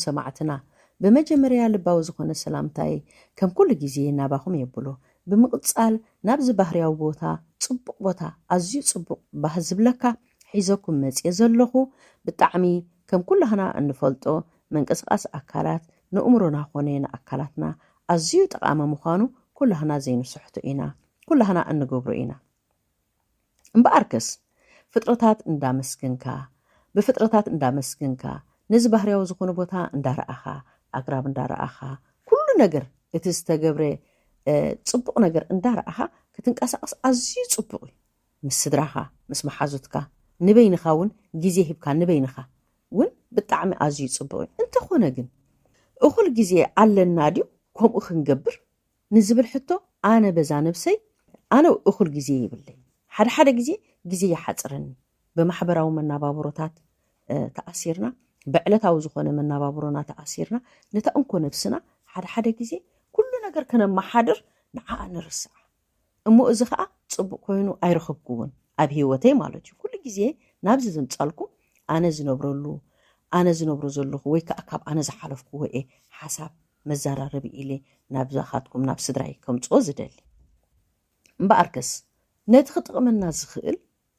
ሰማዕትና ብመጀመርያ ልባዊ ዝኾነ ሰላምታይ ከም ኩሉ ግዜ ናባኹም የብሎ ብምቅጻል ናብዚ ባህርያዊ ቦታ ጽቡቅ ቦታ ኣዝዩ ጽቡቅ ባህ ዝብለካ ሒዘኩም መጽየ ዘለኹ ብጣዕሚ ከም ኩላህና እንፈልጦ መንቅስቃስ ኣካላት ንእምሮና ኮነ ንኣካላትና ኣዝዩ ጠቃሚ ምዃኑ ኩላህና ዘይንስሕቶ ኢና ኩላህና እንገብሮ ኢና እምበኣርከስ ፍጥረታት እንዳመስገንካ ብፍጥረታት እንዳመስገንካ ነዚ ባህርያዊ ዝኾነ ቦታ እንዳረኣኻ ኣግራብ እንዳረኣኻ ኩሉ ነገር እቲ ዝተገብረ ጽቡቕ ነገር እንዳረኣኻ ክትንቀሳቐስ ኣዝዩ ጽቡቕ እዩ ምስ ስድራኻ ምስ መሓዙትካ ንበይንኻ እውን ግዜ ሂብካ ንበይንኻ እውን ብጣዕሚ ኣዝዩ ጽቡቕ እዩ እንተኾነ ግን እኹል ግዜ ኣለና ድዩ ከምኡ ክንገብር ንዝብል ሕቶ ኣነ በዛ ነብሰይ ኣነ እኹል ግዜ የብለይን ሓደ ሓደ ግዜ ግዜ ይሓጽረኒ ብማሕበራዊ መናባብሮታት ተኣሲርና ብዕለታዊ ዝኾነ መናባብሮና ተኣሲርና ነታ እንኮ ነብስና ሓደ ሓደ ግዜ ኩሉ ነገር ከነመሓድር ንዓኣ ንርስዓ እሞ እዚ ከኣ ጽቡቅ ኮይኑ ኣይረኸብኩዎን ኣብ ሂወተይ ማለት እዩ ኩሉ ግዜ ናብዚ ዘምጻልኩም ኣነ ዝነብረሉ ኣነ ዝነብሮ ዘለኹ ወይ ከኣ ካብ ኣነ ዝሓለፍኩዎ እየ ሓሳብ መዛራረቢ ኢለ ናብዛኻትኩም ናብ ስድራይ ከምጽኦ ዝደሊ። እምበኣርከስ ነቲ ክጥቕመና ዝኽእል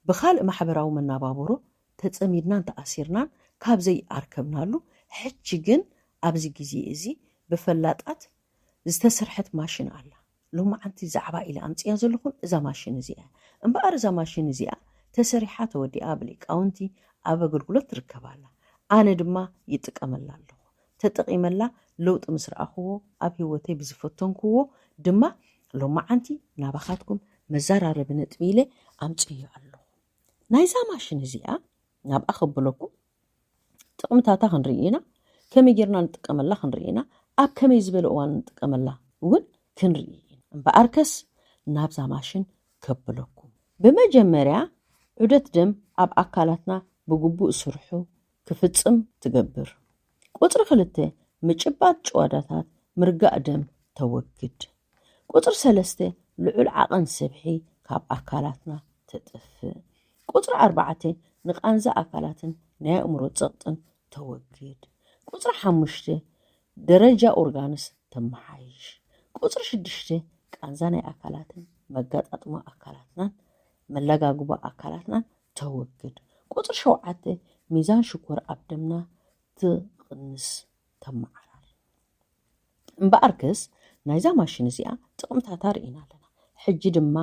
ብኻልእ ማሕበራዊ መናባብሮ ተጸሚድናን ተኣሲርናን ካብ ዘይኣርከብናሉ ሕጂ ግን ኣብዚ ግዜ እዚ ብፈላጣት ዝተስርሐት ማሽን ኣላ። ሎማዓንቲ ዛዕባ ኢለ ኣምጺኣ ዘለኹን እዛ ማሽን እዚኣ እያ። እምበኣር እዛ ማሽን እዚኣ ተሰሪሓ ተወዲኣ ብሊቃውንቲ ኣብ ኣገልግሎት ትርከብ ኣላ። ኣነ ድማ ይጥቀመላ ኣለኹ። ተጠቒመላ ለውጢ ምስ ረኣኹዎ ኣብ ህይወተይ ብዝፈተንኩዎ ድማ ሎማዓንቲ ናባኻትኩም መዛራረቢ ነጥቢ ኢለ ኣምጺኤዮ ኣለኹ። ናይዛ ማሽን እዚኣ ናብኣ ከብለኩም ጥቕምታታ ክንርኢ ኢና ከመይ ጌርና ንጥቀመላ ክንርኢ ኢና ኣብ ከመይ ዝበለ እዋን ንጥቀመላ እውን ክንርኢ ኢና እምበኣርከስ ናብዛ ማሽን ከብለኩም ብመጀመርያ ዑደት ደም ኣብ ኣካላትና ብግቡእ ስርሑ ክፍፅም ትገብር ቁፅሪ ክልተ ምጭባጥ ጭዋዳታት ምርጋእ ደም ተወግድ ቁፅሪ ሰለስተ ልዑል ዓቐን ስብሒ ካብ ኣካላትና ተጥፍእ ቁጽሪ ኣርባዕተ ንቃንዛ ኣካላትን ናይ ኣእምሮ ጸቕጥን ተወግድ። ቁጽሪ ሓሙሽተ ደረጃ ኦርጋንስ ተመሓይሽ። ቁጽሪ ሽዱሽተ ቃንዛ ናይ ኣካላትን መጋጣጥማ ኣካላትናን መለጋግባ ኣካላትናን ተወግድ። ቁጽሪ ሸውዓተ ሚዛን ሽኮር ኣብ ደምና ትቕንስ ተመዓራሪ። እምበኣርክስ ናይዛ ማሽን እዚኣ ጥቕምታታ ርኢና ኣለና ሕጂ ድማ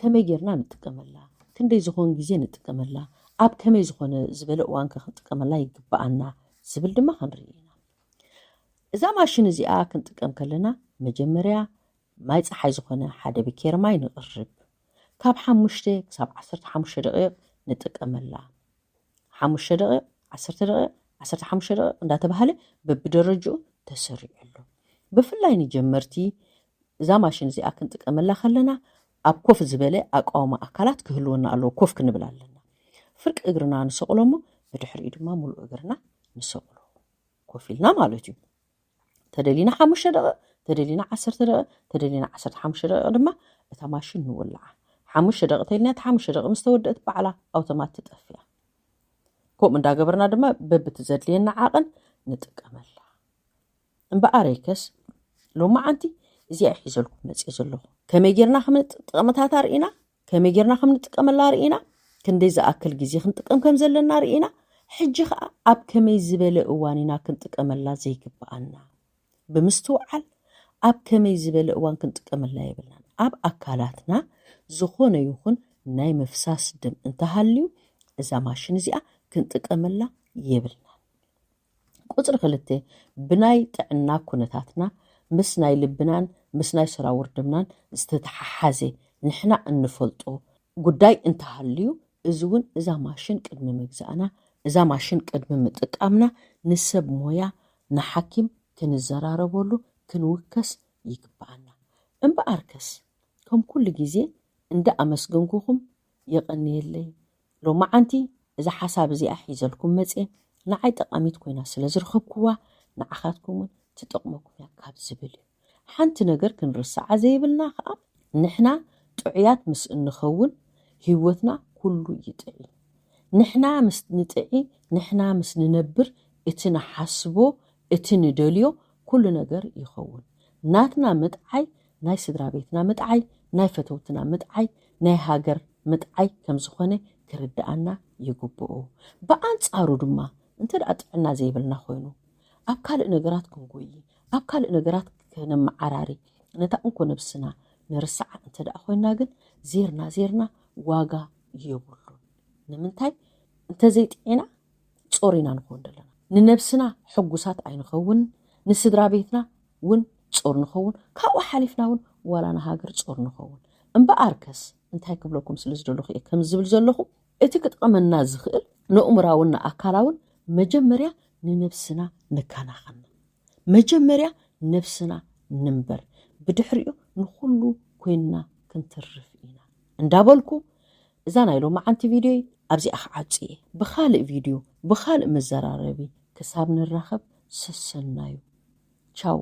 ከመይ ጌርና ንጥቀመላ ክንደይ ዝኾን ግዜ ንጥቀመላ ኣብ ከመይ ዝኾነ ዝበለ እዋን ከ ክንጥቀመላ ይግብኣና ዝብል ድማ ክንርኢ ኢና እዛ ማሽን እዚኣ ክንጥቀም ከለና መጀመርያ ማይ ፀሓይ ዝኾነ ሓደ ብኬር ማይ ንቕርብ ካብ ሓሙሽተ ክሳብ ዓሰርተ ሓሙሽተ ደቂቕ ንጥቀመላ ሓሙሽተ ደቒቕ፣ ዓሰርተ ደቒቕ፣ ዓሰርተ ሓሙሽተ ደቒቕ እንዳተባህለ በብደረጅኡ ተሰሪዑ ኣሎ። ብፍላይ ንጀመርቲ እዛ ማሽን እዚኣ ክንጥቀመላ ከለና ኣብ ኮፍ ዝበለ ኣቃውማ ኣካላት ክህልወና ኣለዎ። ኮፍ ክንብል ኣለና። ፍርቂ እግርና ንሰቕሎ እሞ ብድሕሪኡ ድማ ሙሉእ እግርና ንሰቕሎ ኮፍ ኢልና ማለት እዩ። ተደሊና ሓሙሽተ ደቂቕ ተደሊና ዓሰርተ ደቂቕ ተደሊና ዓሰርተ ሓሙሽተ ደቂቕ ድማ እታ ማሽን ንወልዓ ሓሙሽተ ደቂ ተልና እቲ ሓሙሽተ ደቂ ምስ ተወደእት በዓላ ኣውቶማት ትጠፍያ ከምኡ እንዳገበርና ድማ በብቲ ዘድልየና ዓቕን ንጥቀመላ እምበኣረይከስ ሎሚ ዓንቲ እዚኣ ሒዘልኩም መፅእ ዘለኹ ከመይ ጌርና ክምጥቕምታት ኣርእና ከመይ ጌርና ከም ንጥቀመላ ርኢና፣ ክንደይ ዝኣክል ግዜ ክንጥቀም ከም ዘለና ርኢና፣ ሕጂ ከኣ ኣብ ከመይ ዝበለ እዋን ኢና ክንጥቀመላ ዘይግብኣና? ብምስትውዓል ኣብ ከመይ ዝበለ እዋን ክንጥቀመላ የብልናን። ኣብ ኣካላትና ዝኾነ ይኹን ናይ ምፍሳስ ደም እንተሃልዩ እዛ ማሽን እዚኣ ክንጥቀመላ የብልናን። ቁጽሪ ክልተ፣ ብናይ ጥዕና ኩነታትና፣ ምስ ናይ ልብናን ምስ ናይ ሰራውር ደምናን ዝተተሓሓዘ ንሕና እንፈልጦ ጉዳይ እንተሃልዩ፣ እዚ እውን እዛ ማሽን ቅድሚ ምግዛእና፣ እዛ ማሽን ቅድሚ ምጥቃምና ንሰብ ሞያ፣ ንሓኪም ክንዘራረበሉ፣ ክንውከስ ይግበኣና። እምበኣርከስ ከም ኩሉ ግዜ እንዳ ኣመስገንኩኹም የቐንየለይ ሎማዓንቲ እዛ ሓሳብ እዚኣ ሒዘልኩም መጽየ ንዓይ ጠቓሚት ኮይና ስለ ዝረኸብኩዋ ንዓኻትኩም ውን ትጠቕመኩም እያ ካብ ዝብል እዩ ሓንቲ ነገር ክንርስዓ ዘይብልና ከኣ ንሕና ጥዑያት ምስ እንኸውን ሂወትና ኩሉ ይጥዒ ንሕና ምስ ንጥዒ ንሕና ምስ ንነብር እቲ ንሓስቦ እቲ ንደልዮ ኩሉ ነገር ይኸውን ናትና ምጥዓይ ናይ ስድራ ቤትና ምጥዓይ ናይ ፈተውትና ምጥዓይ ናይ ሃገር ምጥዓይ ከም ዝኾነ ክርድኣና ይግብኦ። ብኣንጻሩ ድማ እንተ ደኣ ጥዕና ዘይብልና ኮይኑ ኣብ ካልእ ነገራት ክንጎዪ ኣብ ካልእ ነገራት ከነመዓራሪ ነታ እንኮ ነብስና ንርስዓ እንተ ደኣ ኮይና ግን ዜርና ዜርና ዋጋ የብሉን። ንምንታይ እንተ ዘይጥዒና ጾር ኢና ንኾን ዘለና። ንነብስና ሕጉሳት ኣይንኸውንን ንስድራ ቤትና ውን ጾር ንኸውን ካብኡ ሓሊፍና ውን ዋላ ንሃገር ጾር ንኸውን እምበኣርከስ እንታይ ክብለኩም ስለ ዝደለኹ እየ ከምዚ ዝብል ዘለኹ እቲ ክጠቕመና ዝኽእል ንእእምራውን ንኣካላውን መጀመርያ ንነብስና ንከናኸና መጀመርያ ነብስና ንንበር ብድሕሪኡ ንኹሉ ኮይንና ክንትርፍ ኢና እንዳበልኩ እዛ ናይ ሎማዓንቲ ቪድዮይ ኣብዚኣ ክዓጹ እየ ብኻልእ ቪድዮ ብኻልእ መዘራረቢ ክሳብ ንራኸብ ሰሰናዩ ቻው